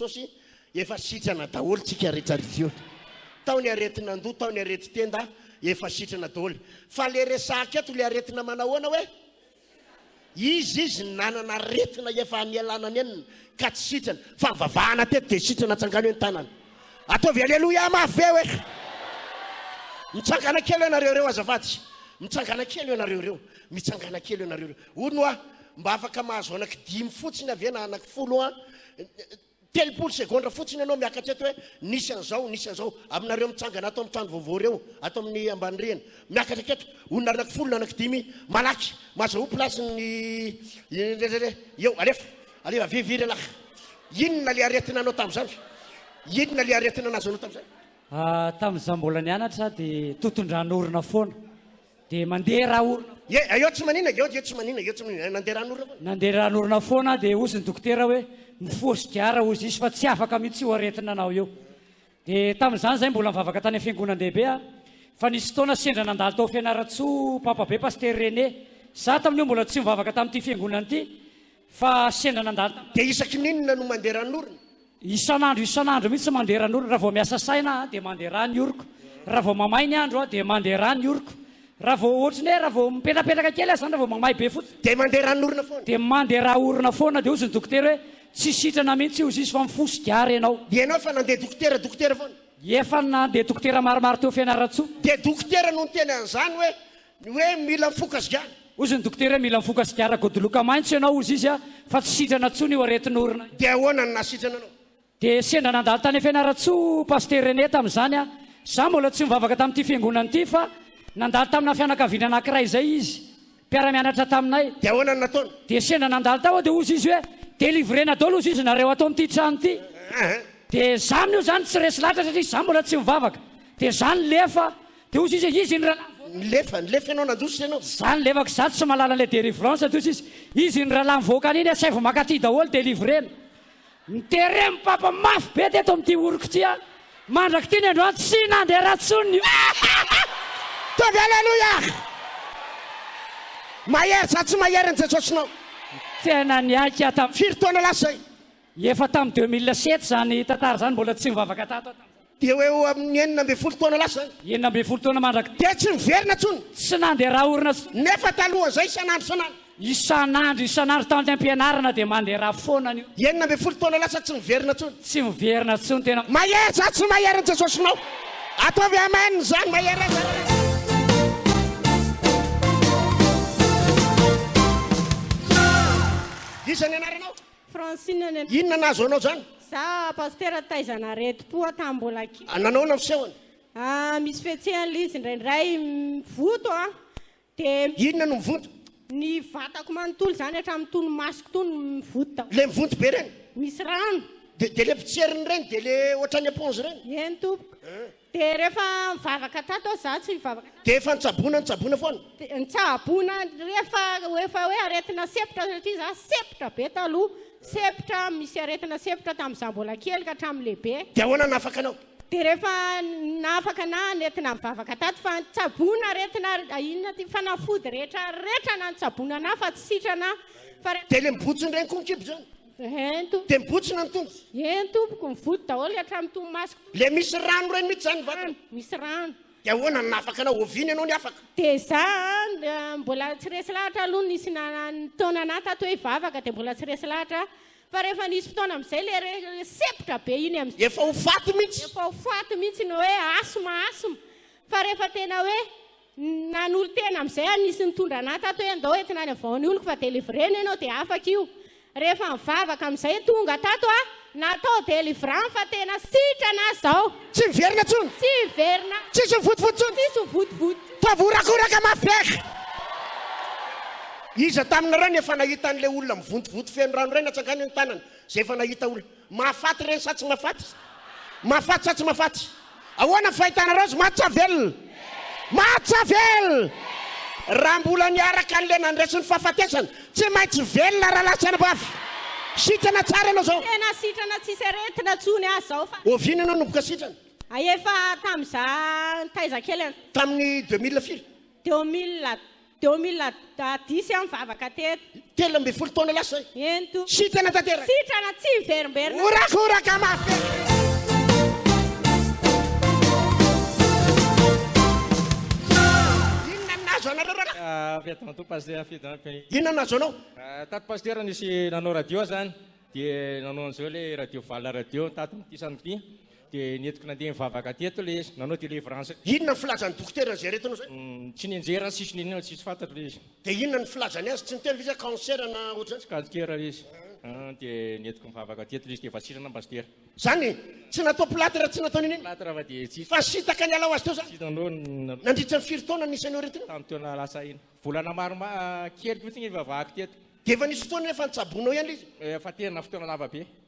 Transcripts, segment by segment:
Jesosy, efa sitrana daholo tsika rehetra ry Ziona, tao ny aretin'andoha, tao ny aretin-tenda, efa sitrana daholo, fa le resahaka eto le aretina manahoana hoe Izy izy nanana aretina efa nialana nenina ka tsy sitrana fa vavahana teto dia sitrana tsangano eny tanana ataovy aleloia mafy be hoe mitsangana kely ianareo ireo azafady mitsangana kely ianareo ireo mitsangana kely ianareo ireo hono hoa mba afaka mahazo anaky dimy fotsiny avy ena anaky folo hoa Telopolo segondra fotsiny ianao miakatra eto hoe nisy an'izao, nisy an'izao. Aminareo mitsangana ato amin'ny trano vaovao ireo, ato amin'ny ambany rihana, miakatra aketo, olona anankifolo na anankidimy, malaky, mazahoa place ny irerere, eo, alefa, alefa, avia, avia lehilahy. Inona ilay aretina anao tamin'izany? Inona ilay aretina nazonao tamin'izany? Ah, tamin'izaho mbola nianatra aho dia toton-dran'orona foana. Dia mandeha rà-orona foana. Ie, aio tsy manina, io, io tsy manina, io tsy manina, eh, nandeha ràn'orona foana. Nandeha ràn'orona foana, dia hozy ny dokotera hoe, Mifoha sigara hozy izy fa tsy afaka mihitsy io aretina anao io. Dia tamin'izany izahay mbola nivavaka tany amin'ny fiangonan-dehibe aho, fa nisy fotoana sendra nandalo tao Fianarantsoa Papabe Pasitera René. Izaho tamin'io mbola tsy nivavaka tamin'ity fiangonana ity, Fa sendra nandalo tamin'ny. Dia isaky ny inona no mandeha ran'orona? Isan'andro isan'andro mihitsy mandeha ran'orona. Raha vao miasa saina aho dia mandeha ra ny oroko. Raha vao mamay ny andro dia mandeha ra ny oroko. Raha vao ohatry ny hoe raha vao mipetrapetraka kely aza izany, raha vao mamay be fotsiny. Dia mandeha ran'orona foana. Dia mandeha ra orona foana. Dia hozy ny dokotera hoe, Tsy sitrana mihitsy hozy izy fa mifoha sigara ianao. Ianao fa nandeha dokotera dokotera foana? Efa nandeha dokotera maromaro teo Fianarantsoa. Dia dokotera no niteny an'izany hoe Ny hoe mila mifoka sigara. Hozy ny dokotera hoe mila mifoka sigara godoloka maintso ianao hozy izy fa tsy sitrana tsony io aretin'orona io. Dia ahoana no nahasitrana anao? Dia sendra nandalo tany Fianarantsoa Pasteur René tamin'izany aho. Izaho mbola tsy nivavaka tamin'ity fiangonana ity fa nandalo tamina fianakaviana anankiray izay izy, mpiara-mianatra taminay. Dia ahoana no nataony? Dia sendra nandalo tao aho dia hozy izy hoe delivrena daholo hozy izy nareo ato amin'ity trano ity. Dia izaho amin'io izany tsy resy lahatra satria izaho mbola tsy mivavaka. Dia izaho nilefa Dia hoy sisa izy, Ny rahalahy nivoaka. Nilefa, nilefa ianao nandroso sy ianao. Za nilefaka izaho tsy mahalala an'ilay delivrance toy sisa izy, ny rahalahy mivoaka any iny asaivo mankaty daholo delivrena. Niterem papa mafy be teto amin'ity oriko ity an! Mandrak'ity ny androany tsy nandeha ratsy intsony ny oriko. Tody Aleloia! Mahery, za tsy mahery an'i Jesosy nao. Tena niaiky aho tam. Firy taona lasa zay? Efa tam deux mille sept zany tantara zany mbola tsy nivavaka tato aho tamzany. Dia ho eo amin' ny enina ambin'ny folo taona lasa izany. Enina ambin'ny folo taona mandrak. Dia tsy niverina intsony. Tsy nandeha raha orina intsony. Nefa talohan' izay isan'andro isan'andro. Isan'andro isan'andro tant am-pianarana dia mandeha raha foana anio. Enina ambin'ny folo taona lasa tsy miverina intsony. Tsy miverina intsony tena. Mahery sa tsy mahery ny Jesosinao? Ataovy Amen izany mahery aza raha izy. Iza ny anaranao? Francine any. Inona no nahazo anao zany? Za Pasitera taiza naretim-po aho tamin'ny mbola kely. Ah, nanaona ny fisehony? Ah, misy fihetsehana ilay izy indraindray mivoto aho dia Inona no mivoto? ny vatako manontolo izany hatramin'ny tony masoko tony mivoto daholo. Le mivoto be reny? Misy rano. Dia dia le potserin'ireny dia le ohatran'ny éponge ireny? Eny tompoko. Dia rehefa nivavaka tato aho, izaho tsy nivavaka tato. Dia efa nitsaboana, nitsaboana foana. Dia nitsaboana rehefa efa hoe aretina sepotra, satria izaho sepotra be taloha, sepotra, misy aretina sepotra tamin'izaho mbola kely ka hatramin'ny lehibe. Dia ahoana no nahafaka anao? Dia rehefa nahafaka anà nentina nivavaka tato, fa nitsaboana aretina inona ity, fanafody rehetra rehetra na nitsaboana anà fa tsy sitrana aho, fa rehefa. Dia ilay mibontsina ireny koa ny kibo izany? Ento. Dia mibontsina ny tongotra. Eny tompoko, mivody daholo hatramin'ny tomasoko. Ilay misy rano ireny mihitsy izany ny vatana. Rano, misy rano. Dia ahoana no nahafaka anao? Oviana ianao no afaka? Dia izaho mbola tsy resy lahatra aloha nisy nanan'ny taonana ahy tato hoe hivavaka dia mbola tsy resy lahatra aho. Fa rehefa nisy fotoana amin'izay ilay re- sepotra be iny amin'izay. Efa ho faty mihitsy. Efa ho faty mihitsy ny hoe asthme, asthme. Fa rehefa tena hoe Nanolo-tena amin'izay aho, nisy nitondra an'ahy tato hoe andao entina any avaho ny oloko fa délivré ny anao dia afaka io. Rehefa nivavaka amin'izay tonga tato aho, natao délivrant fa tena sitrana aho izao. Tsy miverina intsony. Tsy hiverina. Tsisy ho votovody intsony. Tsisy ho votovody. Toa voahorakoraka mafy be aky. Iza taminareo no efa nahita an'ilay olona mivontovonto feno rano iray natsangany ny tanany, izay efa nahita olona. Mahafaty ireny sa tsy mahafaty? Mahafaty sa tsy mahafaty? Ahoana ny fahitanareo azy? Mahatsavelona? Mahatsavelona! Raha mbola niaraka an'ilay nandresy ny fahafatesana, tsy maintsy velona rahalahy sy anabavy. Sitrana tsara ianao izao. Tena sitrana tsisy aretina intsony aho izao fa. Oviana ianao no mboka sitrana? Efa tamin'izaho taiza kely. Tamin'ny deux mille firy? Teo am mila teo am mila diso aho nivavaka teto. Telo ambin'ny folo taona lasa zay. Ento. Sitrana tanteraka. Sitrana tsy miverimberina. Horakoraka mafy. Avy aty matoa pasitera fidina be. Inona no nahazo anao? Tato pasitera nisy nanao radio zany dia nanao an'izao ilay radio valona radio tato ity samedi. Dia nentiko nandeha nivavaka teto ilay izy, nanao délivrance. Inona ny filazan'ny dokotera an'izay aretina izay? Tsy nianjera ny sisiny inona, tsisy fantatro ilay izy. Dia inona ny filazany azy? Tsy niteny ve izy hoe cancer na ohatr'izany? Tsy kansera ilay izy. Dia nentiko nivavaka teto ilay izy, dia vatsirina ny pasitera. Izany? Tsy natao plâtre, tsy natao n'inona n'inona? Plâtre fa dia tsisy. Fa nisintaka niala ho azy teo izany? Nandritra ny firy taona no nisy an'io aretina io? Tamin'ny taona lasa iny. Volana maromaro kely fotsiny nivavahako teto. Dia efa nisy fotoana hoe efa nitsaboinao ihany ilay izy? Efa tena fotoana lava be.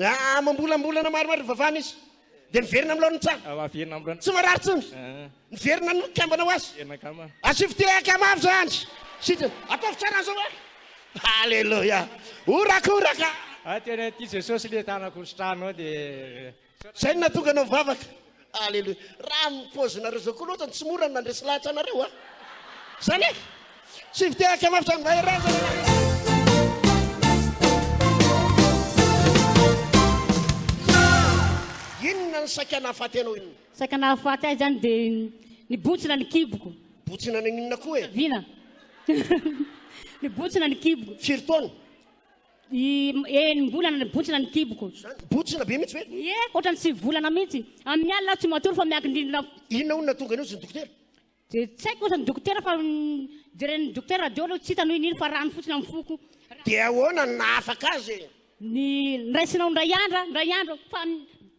Aa mambolambolana maromaro hivavahana izy dia miverina amin'ny laoniny tsara. Aa miverina amin'ny laoniny. Tsy marary intsony. Aa. Miverina amin'ny kambana ho azy. Miverina kama. Asio fitia kama avy izany. Sitry. Ataovy tsara an'izao hoe. Haleloia. Horakoraka. Aa tena tia Jesosy ilay tanako sitrahanao dia. Izay no nahatonga anao mivavaka. Aleloia. Raha amin'ny paozinareo izao koa loatra no tsy mora ny mandresy lahatra anareo a! Izany e! Tsy vitehaka mafy izany mahereza ny anareo. Inona ny saika nahafaty anao inona? Saika nahafaty ahy izany dia nibotsina ny kiboko. Botsina naninona koa e? Vina. Nibotsina ny kiboko. Firy taona? I eh, enim-bolana ny botsina ny kiboko. Zany botsina be mihitsy ve? Ie, ohatran'ny sivy volana mihitsy. Amin'ny alina aho tsy matory fa miankin-drindrina aho. Inona hono nahatonga an'io, izy ny dokotera? Dia tsy haiko ohatran'ny dokotera fa mm, jeren'ny dokotera radio aloha tsy hitany hoe inona fa rano fotsiny amin'ny foko. Dia ahoana no nahafaka azy? Ny niraisinao indray andra, indray andro fa ny-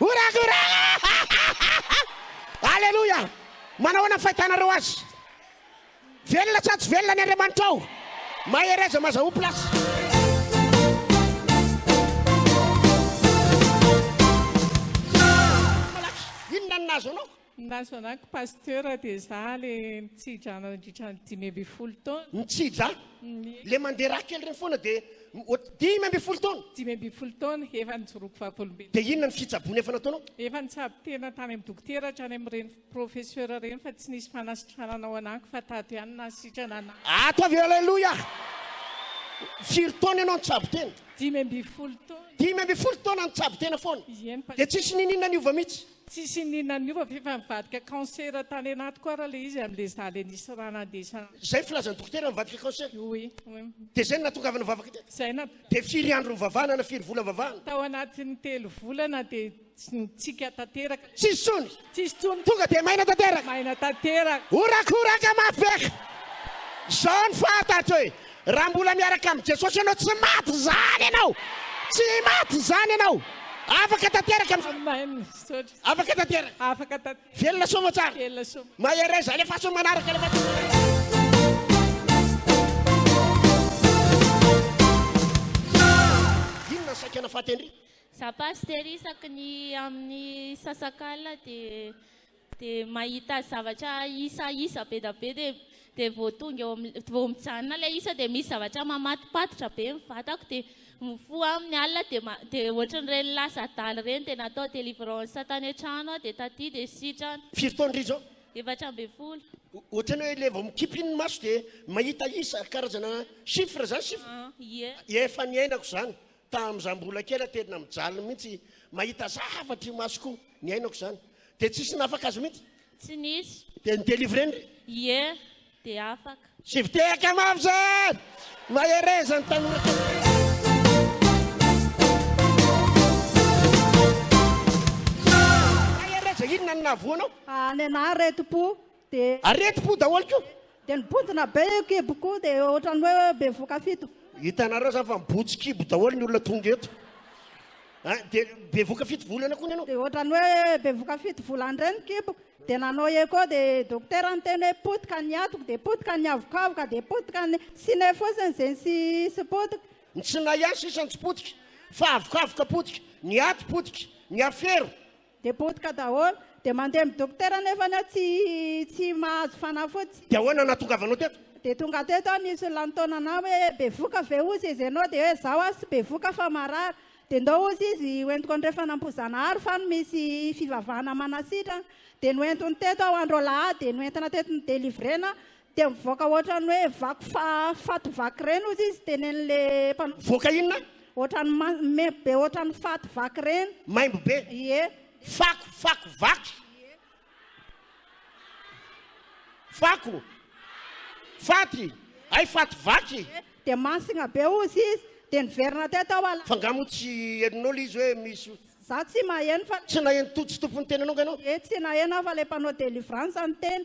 Orakoraka! Aleloia! Manahoana ny fahitanareo azy? Velona sa tsy velona ny Andriamanitra ao? Mahereza mazahou place. Malaky, inona no nahazo anao? Na zanako pasteur dia za le mitsidra anao indritra ny dimy ambin'ny folo taona. Mitsidra? Le mandeha raha kely reny foana dia dimy ambin'ny folo taona? Dimy ambin'ny folo taona, efa nijoroako vavolombelona. Dia inona ny fitsaboana efa nataonao? Efa nitsabo tena tany amin'ny dokotera hatrany amin'ireny professeur ireny fa tsy nisy fanasitranana ao anako fa tato ihany nahasitrana anah. Ato avy eo aleloia! Firy taona ianao nitsabo tena? Dimy ambin'ny folo taona. Dimy ambin'ny folo taona nitsabo tena foana? Ieny pasteur. Dia tsisy niniana niova mihitsy? Tsisy ininona niova f'efa nivadika cancer tany anatiko ara le izy amle za le nisy ra nandesa. Zay filazan'ny dokotera mivadika cancer? Oui oui. De zay no nahatongavana nivavaka teto? Zay na. De firy andro nivavahana na firy vola nivavahana? Tao anatin'ny telo volana de nitsiaka tanteraka. Tsisy tsony? Tsisy tsony. Tonga de maina tanteraka? Maina tanteraka. Horakoraka mafy be ka! Zao ny fahatatro e! Raha mbola miaraka amin'i Jesosy ianao, tsy maty izany ianao! Tsy maty izany ianao! Afaka tanteraka amin'izao! Amen! Misaotra! Afaka tanteraka! Afaka tanteraka! Velona soa aman-tsara! Velona soa! Mahereza! Alefaso ny manaraka! Alefaso ny manaraka! Inona ny saika nafaty an-dry? Za pasitera isaky ny amin'ny sasak'alina dia dia mahita zavatra isa isa be da be dia dia vao tonga eo amin'ny vao mijanona ilay isa dia misy zavatra mamatopatotra be ny vatako dia mifoha amin'ny alina dia ma- dia ohatran'ireny lasa adala ireny dia natao délivrance tany an-trano aho dia taty dia sitrana Firy taona irery izao? efatra ambin'ny folo O- Ohatran'ny hoe ilay vao mikipy iny ny maso dia mahita isa karazana chiffre izany chiffre Ah, ie Efa niainako izany Tamin za mbola kely a tena mijaly mihitsy mahita zavatra imasoko niainako zany de tsisy nafaka azy mihitsy. Tsy nisy. Dia ny délivré ndry? Ie, dia afaka. Sivy tehaka mafy izany! Mahereza ny tanora tanora! Mahereza, inona no nahavoa anao? Any anah reto po, Aretim-po daholo ko. Dia nibontsina be io kibo ko dia ohatran'ny hoe bevoka fito. Hitanareo izany fa mibotsy kibo daholo ny olona tonga eto. Ah, dia bevoka fito volana ko ny anao. Dia ohatran'ny hoe bevoka fito volana indray ny kibo. Dia nanao echo dia dokotera niteny hoe potika ny atoko dia potika ny avokavoka dia potika ny sine fotsiny izay tsy hisy potika. Ny tsinay ihany sisa no tsy potika fa avokavoka potika, ny aty potika, ny afero, Dia potika daholo. Dia mandeha amin'ny dokotera nefa aho tsy tsy mahazo fanafody. Dia ahoana no nahatongavanao teto? Dia tonga teto aho nisy olona nitaona anah hoe bevoka ve ozy izy ianao dia hoe izaho aho tsy bevoka fa marary dia ndao ozy izy hoentiko andrefana Ambohijanahary fa any misy fivavahana manasitrana dia noentiny teto aho andro alahady dia noentina teto nodelivrena Dia mivoaka ohatran'ny hoe vaky fa faty vaky ireny hozy izy tenenin'ilay mpanao. Mivoaka inona? Ohatran'ny ma maimbo be ohatran'ny faty vaky ireny. Maimbo be? Ie. Fako, fako vaky? Fako? Faty? Hay faty vaky? Ie. Dia masigna be hozy izy. Dia niverina teo tao ala. Fa nga moa tsy henonao ilay izy hoe misy. Za tsy maheno fa. Tsy naheno to tsy tompon'ny tena anao nga ianao? Ie, tsy naheno aho fa ilay mpanao délivrance no niteny.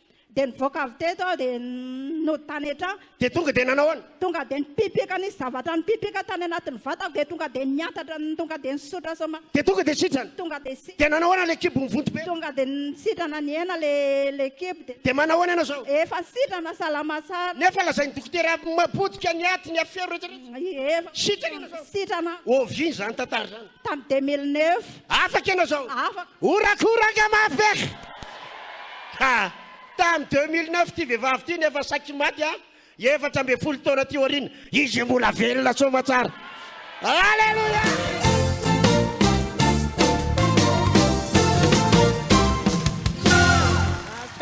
Dia nivoaka avy teto aho dia nody tany an-trano. Dia tonga dia nanao ahoana? Tonga dia nipipika, nisy zavatra nipipika tany anatin'ny vatako dia tonga dia niantatra, tonga dia nisotra soma. Dia tonga dia sitrana? Tonga dia sitrana. Dia nanao ahoana ilay kibo mivonto be? Tonga dia sitrana nihena ilay ilay kibo dia. Dia manao ahoana ianao izao? Efa sitrana, salama tsara. Nefa lazain'ny dokotera potika ny aty, ny afero rehetra rehetra? Efa. Sitrana ianao izao? Sitrana. Oviana izany tantara izany? Tamin'ny 2009. Afaka ianao izao? Afaka. Horakoraka mafy aky! Ha! Tamin'ny 2009 ity vehivavy ity nefa saiky maty a! Efatra ambin'ny folo taona aty aoriana, izy mbola velona soamatsara! Alléluia!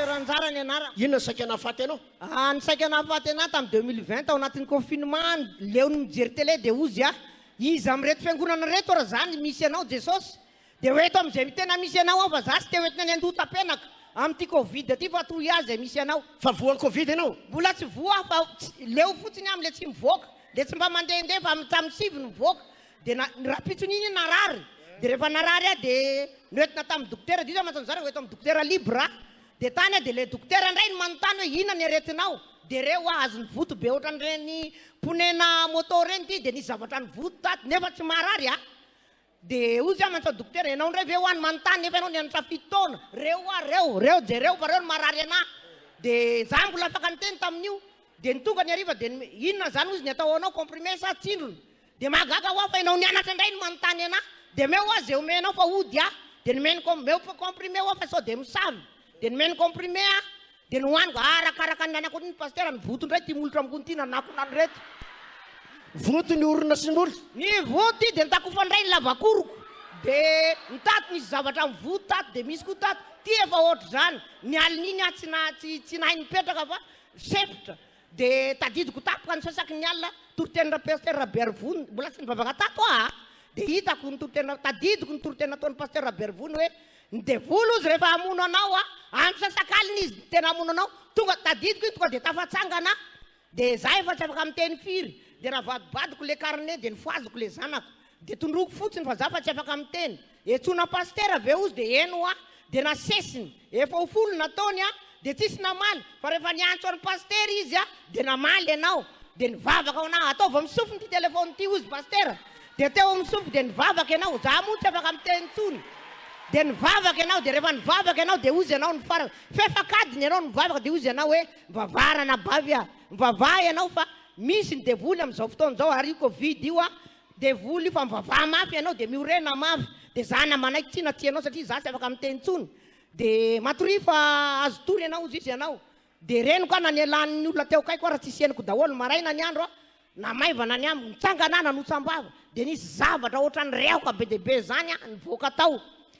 Ranjara ny anarako. Inona ny saika nahafaty anao? Ah, ny saika nahafaty anahy tamin'ny 2020 tao anatin'ny confinement, leon'ny mijery télé dia hozy aho. Iza amin'ireto fiangonana ireto ary za ny misy anao Jesosy? Dia ho eto amin'izay tena misy anao aho fa za tsy te ho entina any andohatapenaka amin'ity covid ity fa toy ahy izay misy anao. Fa voa ny covid ianao? Mbola tsy voa aho fa leo fotsiny amin'ilay tsy mivoaka, ilay tsy mba mandehandeha fa tamin'ny sivy no nivoaka dia na rahampitso n'iny narary dia rehefa narary aho dia noentina tamin'ny dokotera, diso aho mantsy an'i zara ho eto amin'ny dokotera libre aho Dia tany aho dia ilay dokotera indray no manontany hoe inona ny aretinao? Dia re hoa azony voto be ohatran'ireny ponena moto ireny ity dia nisy zavatra nivoto tato nefa tsy marary a! Dia hozy aho manontany dokotera ianao indray ve hoa no manontany nefa ianao nianatra fito taona? Re hoa reo, reo jereo fa reo no marary anah! Dia za mbola afaka niteny tamin'io dia ny tonga ny hariva dia inona izany hozy ny atao ho anao comprimé sa tsindrona? Dia mahagaga hoa fa enao nianatra indray no manontany anah, dia omeo hoa ze omenao fa hody ah, dia nomeny com, omeo comprimé hoa fa sao dia misavy, dia nomeny comprimé ah, dia nohaniko, ah arakaraka ny anako ny pasitera, ny voto indray ity molotra amgony ity nanakonany reto. Voto ny orona sy ny molotra. Ny voto ity dia nitakofany indray ny lavakoroko, dia ny tato misy zavatra amin'ny voto tato, dia misy koa tato, ity efa ohatr'izany, ny alin'iny ah tsy nahay nipetraka fa sempotra, Dia tadidiko tampoka ny sasaky ny alina toritenin-dra Pster Raberivo mbola tsy nivavaka tato aho a! dia hitako ny toriteny tadidiko ny toriteny nataon'i Pasteur Raberivo ny hoe ny devoly ozy rehefa hamono anao a! andro sasakalina izy no tena hamono anao tonga tadidiko iny tonga dia tafatsangana aho dia za efa tsy afaka miteny firy dia navadibadiko le carnet dia nifohaziko le zanako Dia tondroiko fotsiny fa za fa tsy afaka miteny. Etsona pasitera ve ozy dia eny hoa. Dia nasesiny. Efa ho folo nataony an. Dia tsisy namaly. Fa rehefa niantso an'i pasitera izy an dia namaly ianao. Dia nivavaka ho anao. Ataovy amin'ny sofiny ity telefaonina ity ozy pasitera. Dia teo amin'ny sofiny dia nivavaka ianao. Za moa tsy afaka miteny intsony. Dia nivavaka ianao. Dia rehefa nivavaka ianao dia ozy ianao nifarana. F'efa an-kadiny ianao no mivavaka dia ozy ianao hoe mivavaha ranabavy an. Mivavaha ianao fa misy ny devoly amin'izao fotoana izao ary io covid io an Devoly io fa mivavaha mafy ianao dia miorena mafy dia za na manaiky tsia na tsia anao satria za tsy afaka miteny tsony dia matoria fa azo tory ianao ozy izy ianao dia reniko aho na ny elan'ny olona teo akaiko ara tsy isianiko daholo maraina ny andro aho na maivana ny amiko nitsangana aho nanotsam-bava dia nisy zavatra ohatran'ny rehoka be dia be zany aho nivoaka tao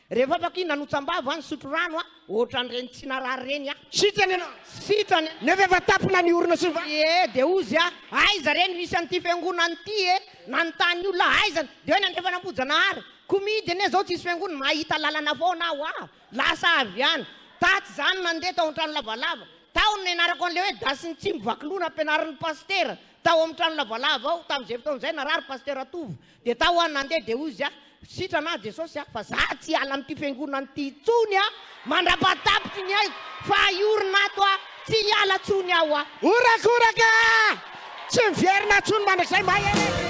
Rehefa afaka iny nanotsan-bava aho nisotro rano aho, ohatran'ireny tsy narary ireny aho. Sitrana ianao! Sitrana e! Nefa efa tampina ny orona sy ny vatana. Ie, dia hoy izy aho, aiza re no hisy an'ity fiangonana ity e? Nanontany ny olona, aiza no? Dia hoe nandrefana am-boajanahary. Koa mihidy anie izao tsisy fiangonana, mahita lalana foana aho aa! Lasa avy any. Tatsy izany no nandeha tao an-trano lavalava. Tao no nianarako an'ilay hoe dasy ny tsy mivakilona ampianarin'ny pasitera tao amin'ny trano lavalava ao, tamin'izay fotoana izay, narary pasitera Tovo. Dia tao aho nandeha dia hozy aho, Sitrana aho Jesosy a, fa za tsy hiala amin'ity fiangonana ity intsony a, mandrapahatapitry ny aiko fa hiorina ato aho, tsy hiala intsony aho a. Horakoraka! Tsy miverina intsony mandrakizay mahereza.